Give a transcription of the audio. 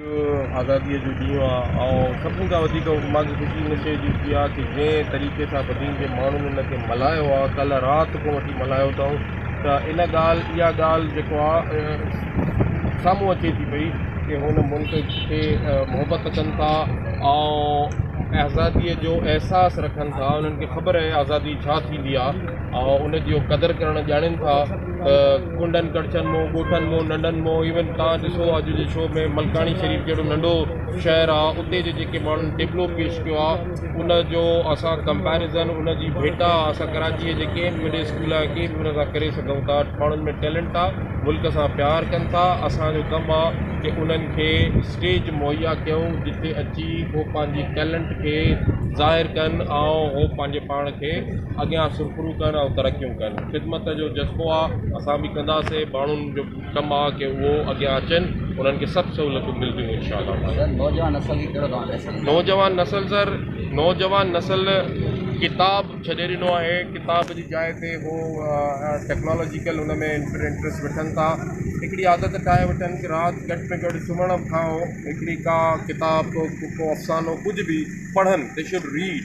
اڄ آزاديء جو ڏينهن آهي ۽ سڀني کان وڌيڪ مان کي خوشي ان شيء جي ٿي آهي ته جنهن طريقي سان بدين جي ماڻهن ان کي ملهايو آهي، ڪلهه رات کان وٺي ملهايو اٿائون ته ان ڳالهه، اها ڳالهه جيڪو آهي سامهون اچي ٿي پئي ته هن ملڪ کي محبت ڪن ٿا ۽ آزاديء جو احساس رکن ٿا، انهن کي خبر آهي آزادي ڇا ٿيندي آهي ۽ ان جو قدر ڪرڻ ڄاڻين ٿا. ڪنڊن ڪڙڇن مون ڳوٺن مون ننڊن مون ايون تان ڏسو اڄ جي شو ۾ ملڪاڻي شريف جهڙو ننڍو شهر آ اتي جي جيڪي ماڻهن ٽيبلو پيش ڪيو آ ان جو اسان ڪمپيرزن ان جي ڀيٽا اسان ڪراچي جي جيڪي مڊل اسڪول آ ڪي به ان سان ڪري سگهون ٿا ماڻهن ۾ ٽيلنٽ آ ملڪ سان پيار ڪن ٿا اسان جو ڪم آ ڪي انهن کي اسٽيج مهيا ڪيون جتي اچي هو پنهنجي ٽيلنٽ کي ظاهر ڪن ۽ هو پنهنجي پاڻ کي اڳيان سرخرو ڪن ۽ ترقيون ڪن. ڪن. خدمت جو جذبو آ اسان به ڪنداسين ماڻهن جو ڪم آ ڪي اهو اڳيان اچن انهن کي سڀ سهولتون ملديون انشاء الله تعالي. سر نوجوان نسل کي ڪهڙو توهان ميسيج ڏيندا. نوجوان نسل سر نوجوان نسل ڪتاب ڇڏي ڏنو آهي ڪتاب جي جاء تي هو ٽيڪنالاجيڪل ان ۾ انٽرسٽ وٺن ٿا هڪڙي عادت ٺاهي وٺن ڪي رات گهٽ ۾ گهٽ سمهڻ کان هڪڙي ڪا ڪتاب ڪو افسانو ڪجهه به پڙهن دي شوڊ ريڊ.